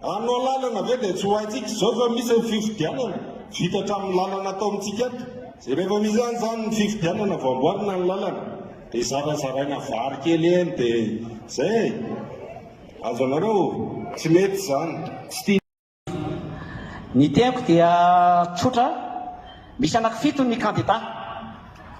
Anao lalana ve dia tsy ho haintsika izao fa misy ny fifidianana vita hatramin'ny lalana atao amintsika ato. Izay rehefa misy any izany ny fifidianana vao amboarina ny lalana dia zarazaraina vary kely eny dia izay e. Azonareo? Tsy mety izany. Tsy tia. Ny teniko dia tsotra, misy anaky fito ny kandida,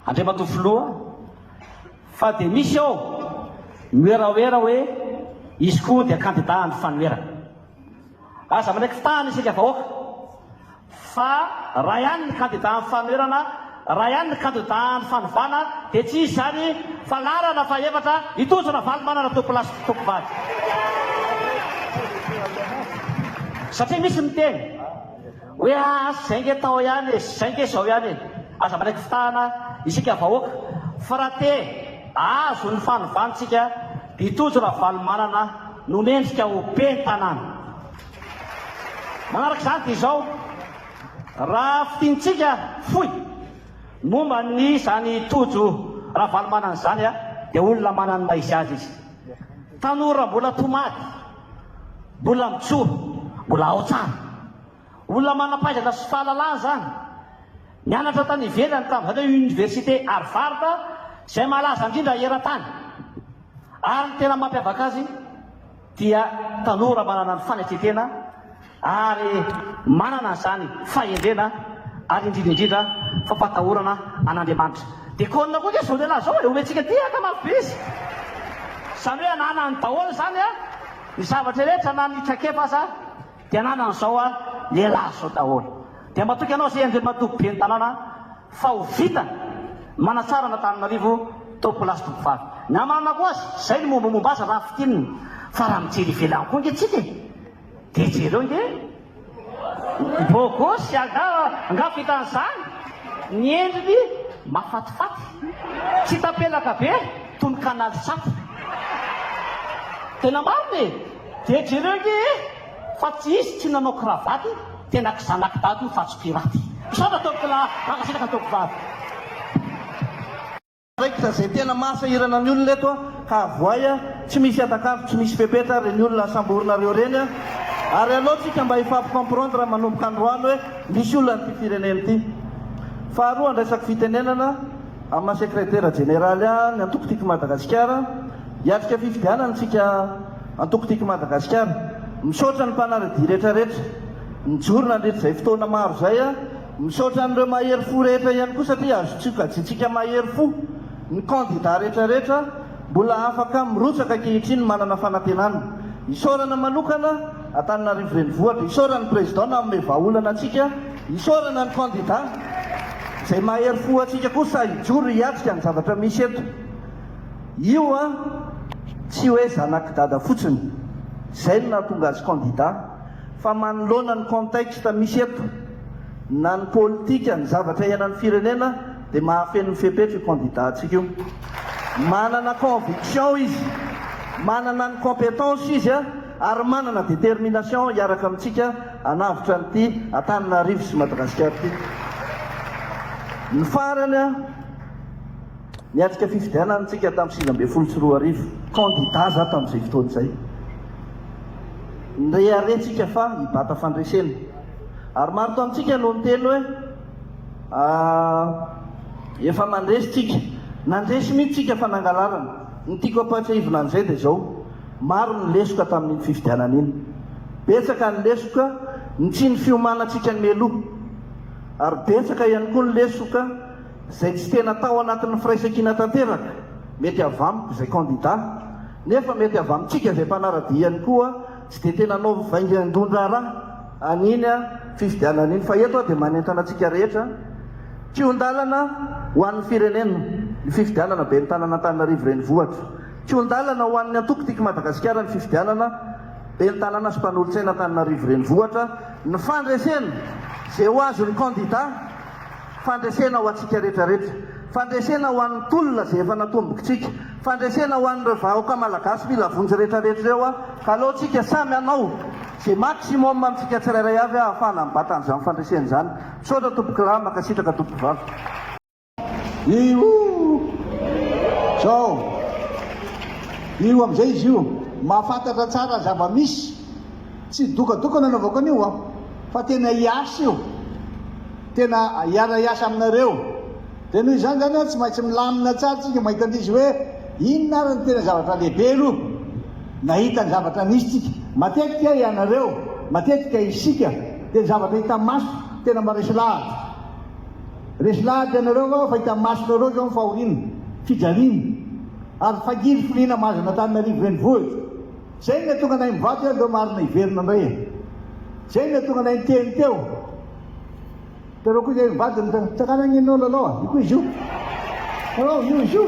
Andriamatoa Filoha, fa dia misy ao mioeraoera hoe izy koa dia kandida handry fanoherana. Aza manaiky fitahana isika vahoaka. Fa raha ihany ny kandida amin'ny fanoherana, raha ihany ny kandida amin'ny fanovana dia tsy hisy izany fa laharana fahefatra i Tojo Ravalomanana Topilasy Tompivady. Satria misy miteny hoe aa zay nge tao ihany e, zay nge izao ihany e. Aza manaiky fitahana isika vahoaka fa raha te ahazo ny fanovantsika dia i Tojo Ravalomanana no mendrika ho ben'ny tanàna. Manaraka izany dia izao, raha fintintsika fohy momba ny izany Tojo Ravalomanana izany dia olona manana ny maha izy azy izy. Tanora mbola tomady, mbola mijoro, mbola ao tsara. Olona manam-pahaizana sy fahalalana izany. Nianatra tany ivelany tamin'izany hoe Université Harvard izay malaza indrindra eran-tany. Ary ny tena mampiavaka azy, dia tanora manana ny fanekentena ary manana izany fahendrena ary indrindra indrindra fampatahorana an'Andriamanitra. Dia kônina koa ity zao lehilahy zao e, omentsika ity ankamarobe izy. Izany hoe ananany daholo izany ny zavatra rehetra na ny traikefa aza. Te hananany zao a lehilahy zao daholo dia matoky anao zay Andriamatoa Ben'ny tanàna fa ho vita manatsara an'Antananarivo tao place Tompovavy. Ny hamarinako azy zay ny mombamomba azy raha fintinina fa raha mijery ivelany koa nge tsika e dia jereo nge bogosy angah angah vitan'izany ny endriny mafatifaty tsy tapelaka be toy ny canal sato. Tena marina e! Dia jereo nge e fa tsy izy tsy nanao cravate tena kizanak'i dada io fa tsy pirate. Misaotra tompoko lahy, mankasitraka tompoko vavy. Raikitra zay tena maha sahirana ny olona eto ka avoay a, tsy misy hatak'andro tsy misy fepetra reny olona asamborinareo reny a, ary aleo tsika mba hifampy comprendre manomboka androany hoe misy olona an'ity firenena ity. Faharoa andraisako fitenenana amina sekretera jeneraly an ny antoko Tiko Madagasikara, Hiatrika fifidianana isika antoko Tiako Madagasikara. Misaotra ny mpanaradia retraretra nijoro nandritra izay fotoana maro izay. Misaotra an'ireo mahery fo rehetra ihany koa satria azo tsokajiantsika mahery fo ny kandida retraretra mbola afaka mirotsaka ankehitriny manana fanantenana. Isaorana manokana Antananarivo Renivohitra. Isaorana ny Président nanome vahaolana antsika. Isaorana ny kandida izay mahery fo antsika koa sahy hijoro hiatrika ny zavatra misy eto. Io an, tsy hoe zanak'i Dada fotsiny, izay no nahatonga azy kandida, fa manoloana ny contexte misy eto, na ny politika, ny zavatra iainan'ny firenena, dia mahafeno ny fepetra io candidat-ntsika io. Manana conviction izy, manana ny compétence izy an, ary manana détermination hiaraka amintsika hanavotra an'ity Antananarivo sy Madagasikara ity. Ny farany an, Niatrika fifidianana isika tamin'ny sivy ambin'ny folo sy roa arivo, kandida za tamin'izay fotoana izay. Nireharehantsika fa hibata fandresena. Ary maro tamintsika no niteny hoe aah efa mandresy tsika. Nandresy mihitsy tsika fa nangalarana. Ny tiako ampahatsiahivina an'izay dia izao, maro ny lesoka tamin'iny fifidianana iny. Betsaka ny lesoka ny tsy ny fiomanantsika mialoha. Ary betsaka ihany koa ny lesoka. izay tsy tena tao anatin'ny firaisankina tanteraka, mety avy amiko izay kandida, nefa mety avy amintsika izay mpanara-dia ihany koa, tsy dia tena hanao vaingan-draharaha an'iny fifidianana iny, fa eto dia manentana antsika rehetra, kihon-dalana ho an'ny firenena ny fifidianana ben'ny tanana Antananarivo renivohitra, kihon-dalana ho an'ny antoko Tiako Madagasikara ny fifidianana ben'ny tanàna sy mpanolotsaina Antananarivo renivohitra, ny fandresena izay ho azon'ny kandida. Fandresena ho antsika retraretra. Fandresena ho an'ny tolona izay efa natombokitsika. Fandresena ho an'ireo vahaoka malagasy mila vonjy retraretra ireo aho. Ka aleontsika samy hanao izay maximum amintsika tsirairay avy ahafahana mibata an'izany fandresena izany. Misaotra tompokolahy, mankasitraka tompovavy. Io zao io amizay izy io mahafantatra tsara zava misy. Tsy dokadoka nanaovako an'io aho fa tena hiasa io, tena hiara hiasa aminareo, dia noho izany izany an tsy maintsy milamina tsara tsika mahita an'izy hoe inona ary ny tena zavatra lehibe aloha nahita ny zavatra nisy tsika, matetika ianareo, matetika isika dia ny zavatra hita maso tena maresy lahatra, resy lahatra ianareo fa fahita masonareo izao ny fahoriana, fijaliana ary fagirifiriana mahazo an'Antananarivo renivohitra. Zay ne tonga nahay mivady eo ndreo marina hiverina ndray e! Zay ne tonga nahay niteny teo ndreo koa zay mivady ny tsakanao anie no lalao a! Io koa izy io! Lalao io izy io!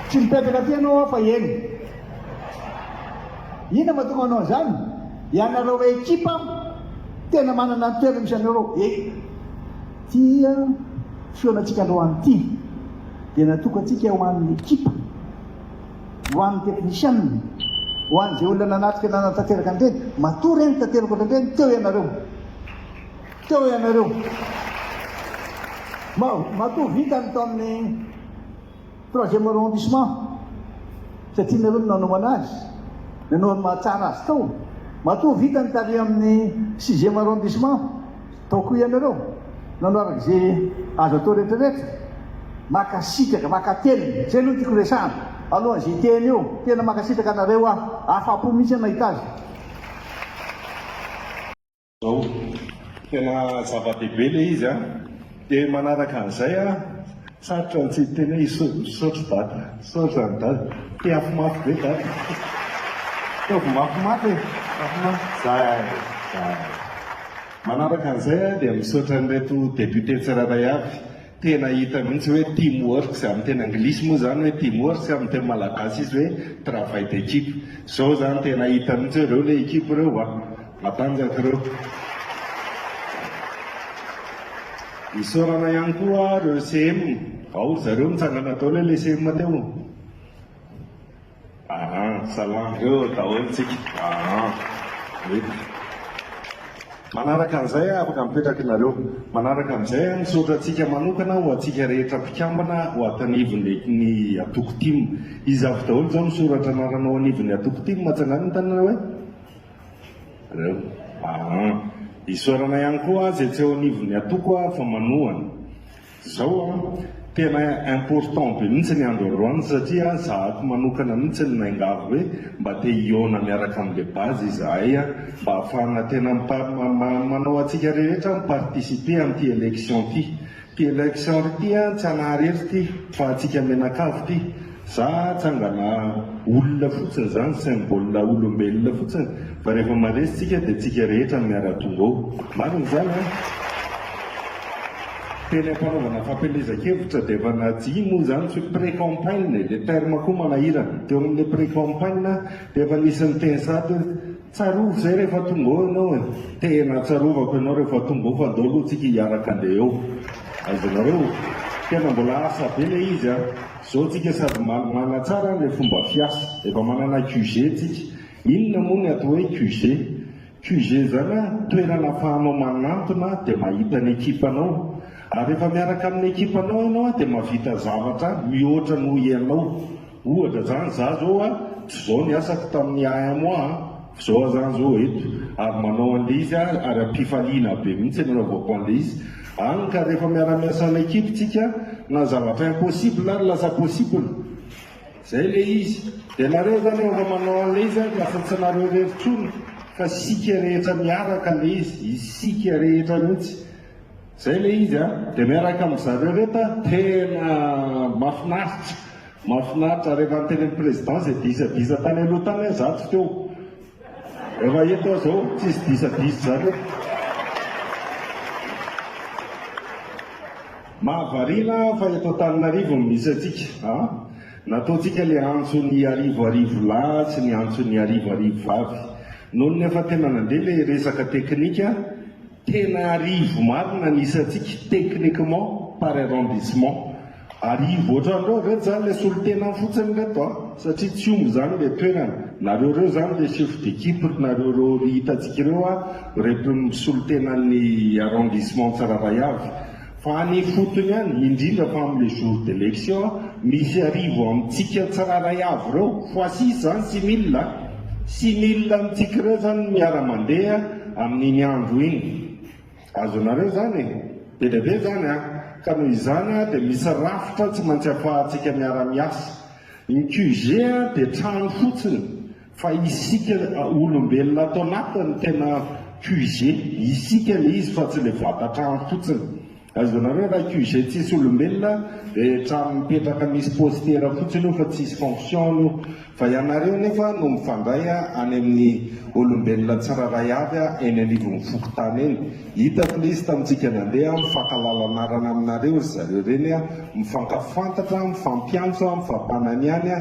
Tsy mipetraka aty ianao aho fa eny! Inona mahatonga manao an'izany? Ianareo hoe ekipa tena manana ny toerany misy anareo e! Tia fihaonantsika androany ity dia natokantsika ho an'ny ekipa. Ho an'ny teknisianina, ho an'izay olona nanatrika nanatanteraka an'ireny, matoa ireny tanteraka ohatr'ireny, teo ianareo. Teo ianareo. Ma, matoa vita ny taon'ny troisième arrondissement, satria ianareo no nanaovana azy, ianao no mahatsara azy tao, matoa vita ny tarehy amin'ny sixième arrondissement, Tao koa ianareo, nanao araka izay azo atao rehetra rehetra. Makasitraka, makatelina. Zay aloha no tiako resahana, alohan' izay teny eo. Tena makasitraka anareo aho, afapo mihitsy aho nahita azy. Zao, tena zava-dehibe ilay izy an! Dia manaraka an'izay an, sarotra ny tsy hiteny hoe iso, misaotra dada, misaotra an'i dada. Tehafo mafy be dada. Ataovy mafimafy e, mafimafy. Zay, zay. Manaraka an'izay aho dia misaotra an'ireto députés tsirairay avy, tena hita mihitsy hoe team work, izay amin'ny teny anglisy moa izany hoe team work, izay amin'ny teny malagasy izy hoe travail d'équipe. Izao izany tena hita mihitsy hoe ireo ilay équipe ireo a! Matanjaka ireo. Isaorana ihany koa ireo CM, ao ry zareo nitsangana daholo ilay CM teo. Aa salama eo daholo tsika aa mety manaraka an'izay aho afaka mipetraka ianareo manaraka an'izay aho misaotra antsika manokana ho antsika rehetra mpikambana ho ato anivon'ny ny atoko tim iza avy daholo izao misoratra anarana ao anivon'ny atoko tim atsangano ny tanana hoe reo aa isaorana ihany koa azy etsy ao anivon'ny atoko aho fa manohana Zao an, tena important be mihitsy ny andro androany satria zahako manokana mihitsy ny naingavo hoe mba te hihaona miaraka amin'ny le base izahay an, mba ahafahana tena manao antsika rehetra mi-participer amin'ity election ity. Ity election ity an, tsy anahary eto ity fa antsika menakavy ity, Za tsangana olona fotsiny zany symbole olombelona fotsiny fa rehefa maresy tsika de tsika rehetra miaratonga eo. Marina zany an? Teny ampanaovana fampielezan-kevitra de efa naji moa zany tsy pre-campagne e, le terme koa manahirana, teo amle pre-campagne de efa nisy niteny sahady hoe, Tsarovy zay rehefa tonga eo enao e! Tena tsarovako enao rehefa tonga eo fa ndao aloha tsika hiaraka andeha eo. Azonareo? Tena mbola asa be le izy a! Zao tsika sady malimana tsara anle fomba fiasa. Efa manana QG tsika. Inona moa ny atao hoe QG? QG zany a, toerana afahanao manantona dia mahita ny ekipanao. Ary rehefa miaraka amin'ny ekipanao enao a dia mahavita zavatra mihoatra noho ianao. Ohatra izany za zao a, tsy zao ny asako tamin'ny AMOA a, f'zao a zany zao eto ary manao an'le izy a ary ampifaliana be mihitsy ny anaovako an'le izy any ka rehefa miara-miasa en équipe tsika na zavatra impossible ary lasa possible zay le izy de nareo zany rehefa manao an'le izy a lasa tsy nareo rery tsony fa isika rehetra miaraka le izy, isika rehetra mihitsy. Zay ilay izy a! Dia miaraka amin'ny zareo ireto a! Tena mahafinaritra! Mahafinaritra! Rehefa niteny amin'ny Président izay disadisa tany aloha tany hoe za tsy teo. Efa eto aho izao tsisy disadisa izany hoe. Mahavariana fa eto Antananarivo no misy antsika a! Nataontsika ilay antso ny arivo arivo lahy sy ny antso ny arivo arivo vavy. Nony efa tena nandeha ilay resaka teknika Tena arivo marina ny isantsika techniquement par arrondissement. Arivo otrany ireo ve zany le solontenany fotsiny reto a? Satria tsy omby zany le toerana. Nareo reo zany le chef d'équipe ry nareo reo ry hitantsika ireo a, reto ny solontenan'ny arrondissement Tsaravahiavy. Fa any ifotony any, indrindra fa amin'ilay jour d'election a, misy arivo amintsika tsirairay avy ireo, fois six izany six mille a, six mille amintsika ireo izany no miara-mandeha amin'iny andro iny. Azonareo izany e? Be dia be izany an! Ka noho izany dia misy rafitra tsy maintsy afahantsika miara-miasa. Ny QG dia trano fotsiny, Fa isika olombelona ato anaty no tena QG. Isika le izy fa tsy le vata trano fotsiny. Azonareo raha QG tsisy olombelona dia trano mipetraka misy postera fotsiny io fa tsisy fonction-ny io. Fa ianareo nefa no mifandray any amin'ny olombelona tsirairay avy eny anivon'ny fokontany eny. Hitako le izy tamintsika nandeha mifankalala anarana aminareo ry zareo reny mifankafantatra, mifampiantso, mifampananiany.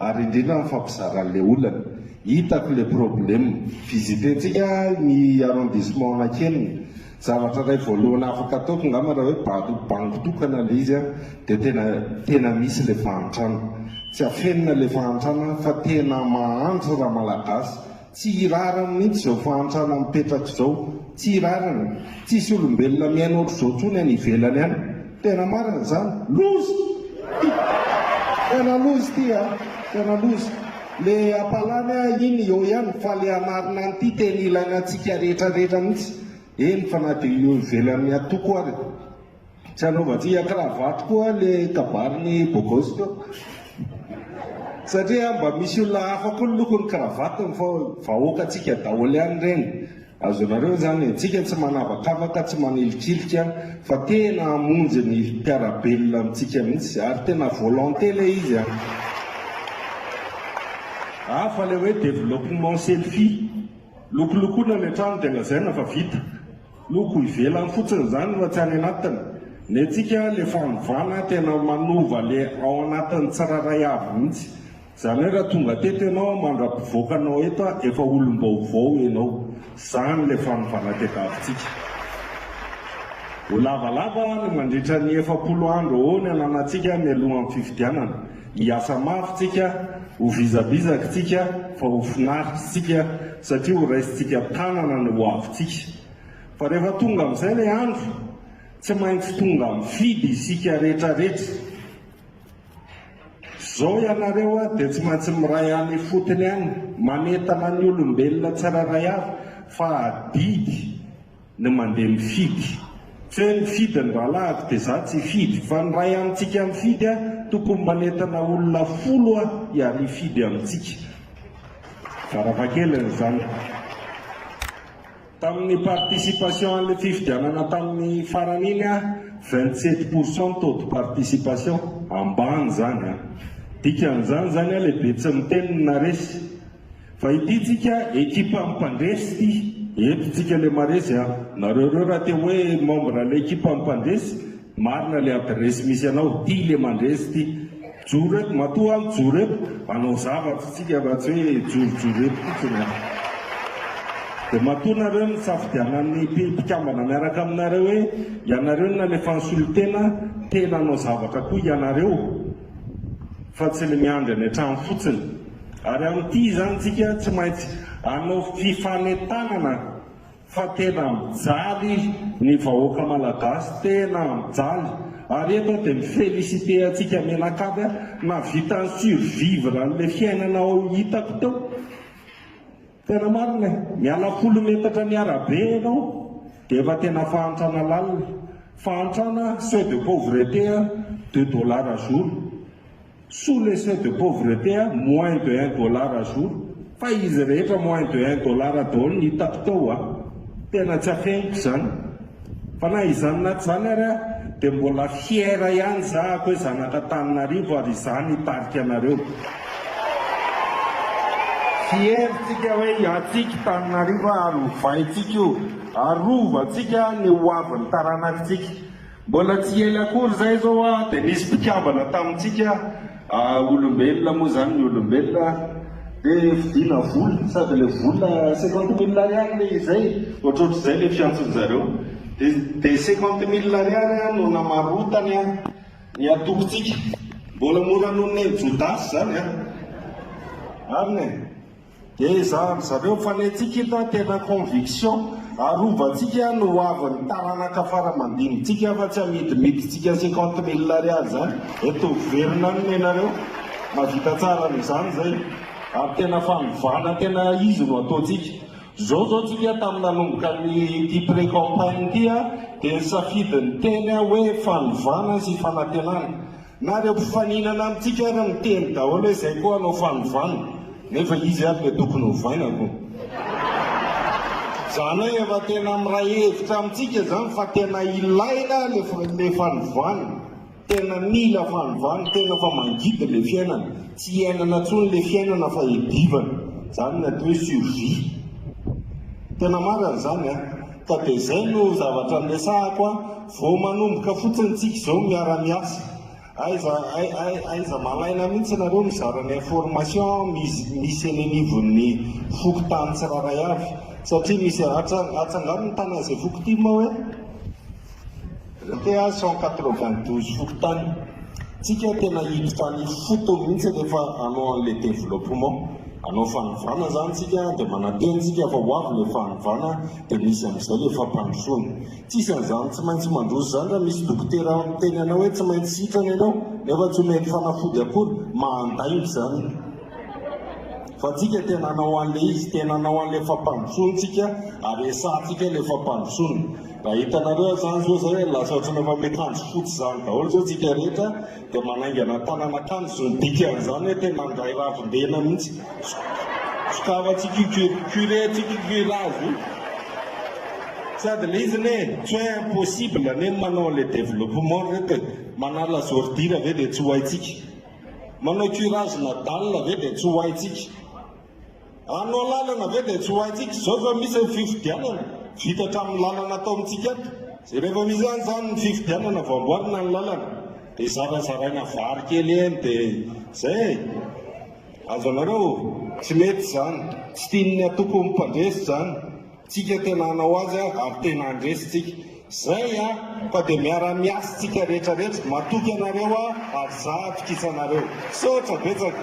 Ary indrindra ny fampizarany le olana. Hitako le probleme. Visiter-tsika ny arrondissement Anakelina. Zavatra iray voalohany afaka ataoko angamba raha hoe bado bango tokana le izy an, dia tena tena misy le fahantrana. Tsy afenina le fahantrana fa tena mahantra ra Malagasy. Tsy hirarany mihitsy izao fahantrana mipetraka izao. Tsy hirarany. Tsisy olombelona miaina ohatr'izao intsony any ivelany any. Tena marina izany. Loza! Tena loza ity a! Tena loza. Le apalany a iny eo ihany fa le hanarina an'ity tena ilaina antsika rehetra rehetra mihitsy. Eny fa na dia eo ivelan'ny antoko ary. Tsy anaovantsika cravatte koa le kabarin'i Bogos teo. Satria mba misy olona hafa koa ny lokon'ny cravatte fa vahoakantsika daholo ihany ireny. Azonareo izany e, antsika tsy manavakavaka, tsy manilikilika fa tena hamonjy ny mpiara-belona amintsika mihitsy ary tena volonté ilay izy an. Hafa ilay hoe développement selfie, lokolokona ilay trano dia lazaina fa vita. Loko ivelany fotsiny zany no aty anatiny, ny antsika le fanovana tena manova le ao anatiny tsirairay avy mihitsy, zany hoe raha tonga teto enao mandra-pivoaka anao eto efa olom-baovao enao, zany le fanovana tadiavintsika. Ho lavalava ny mandritra ny efapolo andro eo ny ananantsika mialohan'ny fifidianana, Hiasa mafy tsika, ho vizabizaky tsika fa ho finaritra tsika satria ho raisintsika tanana ny hoavintsika. Fa rehefa tonga amin'izay ilay andro, tsy maintsy tonga mifidy isika retraretra. Zao ianareo dia tsy maintsy miray any ifotony any, manentana ny olombelona tsirairay avy fa adidy. ny mandeha mifidy tsy hoe mifidy ny rahalahiko dia za tsy hifidy fa ny ray amintsika mifidy a tokony manentana olona folo a iary hifidy amintsika tsara vakeliny izany tamin'ny participation an'le fifidianana tamin'ny farany iny a vingt sept pour cent taux de participation ambany izany a dikan'izany izany a lehibe tsy miteny ny naresy Fa ity tsika ekipa mpandresy ty eto tsika le maresy a! Nareo reo raha te hoe membre le ekipa mpandresy marina le adiresy misy anao ty le mandresy ty! Joro eto matoa an joro eto anao zavatra tsika raha tsy hoe jorojoro eto fotsiny a! De matoa nareo no nisafidianan'ny mpikambana miaraka aminareo hoe ianareo no nalefan'ny solotena te nanao zavatra koa ianareo! fa tsy ny miandry any an-trano fotsiny ary amin'ity izany tsika tsy maintsy hanao fifanentanana fa tena mijaly ny vahoaka malagasy tena mijaly ary eto aho dia mi-féliciter antsika menakavy aho nahavita ni-survivre an'ilay fiainana ao hitako teo Tena marina e! Miala folo metatra ny arabe ianao dia efa tena fahantrana lalina. Fahantrana seuil de pauvreté a deux dollars jour. Sous le seuil de pauvreté a moins de un dollar jour. Fa izy rehetra moins de un dollar daholo no hitako tao a! Tena tsy afeniko izany. Fa na izany na izany ary aho dia mbola fier ihany za ako hoe zanak'Antananarivo ary izany hitarika anareo. Fier tsika hoe hiatsiky Tananarivo ary hovaintsika io, arovantsika ny hoavin'ny taranakitsika. Mbola tsy ela akory izay izao aho dia nisy mpikambana tamintsika, Ah olombelona moa zany ny olombelona de vidina vola sady le vola cinquante mille ariary le izay ohatrohatrizay le fiantson'ny zareo de de cinquante mille ariary an no namarotany an ny atokontsika mbola mora noho ny an'i jodasy zany an marina e. Dia izany ry zareo fa ny antsika hita tena conviction, arovantsika ny ho avin'ny taranaka fara mandinitsika fa tsy amidimidintsika cinquante mille ariary izany, eto miverina any nenareo, mahavita tsara an'izany zay, ary tena fanovana tena izy no ataontsika. Zao zao tsika tamin'ny nanomboka ny ity pre-campagne ity dia nisafidy ny teny aho hoe fanovana sy fanantenana, Na ireo mpifaninana amintsika ary miteny daholo hoe izay koa hanao fanovana, nefa izy ary dia tokony hovaina aloha. Izany hoe efa tena miray hevitra amintsika izany fa tena ilaina ilay fanovana, tena mila fanovana, tena efa mangidy ilay fiainana, tsy iainana intsony ilay fiainana fa iadivana, izany ny atao hoe survie. Tena marina izany an! Ka dia izay no zavatra niresahako an! Vao manomboka fotsiny tsika izao miara miasa, aiza aiza malaina mihitsy nareo mizara ny information misy eny anivon'ny fokontany tsirairay avy satria misy atsangano ny tany an'izay foko tim hoe TA cent quatre vingt douze fokontany, tsika tena hiditra any ifotony mihitsy rehefa hanao an'ilay développement, hanao fanovana zany tsika dia manantena tsika fa ho avy ilay fanovana dia misy amin'izay ilay fampandrosoana. Tsy izy an'izany tsy maintsy mandroso izany raha misy dokotera miteny anao hoe tsy maintsy sitrana ianao nefa tsy omeny fanafody akory, mandainga izany. Fa tsika tena hanao an'ilay izy, tena hanao an'ilay fampandrosoany tsika ary esahantsika ilay fampandrosoana. Raha hitanareo aza izany izao izay lasa ohatran'ny efa mety handro fotsy izany daholo izao tsika rehetra. Dia manaingana tanana kanjo ny dikan'izany hoe tena handray ravin-dena mihitsy. Sokava tsy cucur, curé tsy cucur azy io. Sady le izy ne, tsy hoe impossible anie ny manao le développement ry reto e. Manala zordira ve dia tsy ho haintsika. Manao curage nadal ve dia tsy ho haintsika. Anao lalana ve dia tsy ho haintsika izao fa misy ny fifidianana vita hatramin'ny lalana atao amintsika ato. Dia rehefa misy any izany ny fifidianana vao amboarina ny lalana dia zarazaraina vary kely eny dia izay e. Azonareo? Tsy mety izany. Tsy tian'ny antokon'ny mpandresy izany. Tsika tena hanao azy ary tena handresy tsika Zay a fa de miara miasa tsika rehetra rehetra matoky anareo a ary za atokisanareo misaotra betsaka.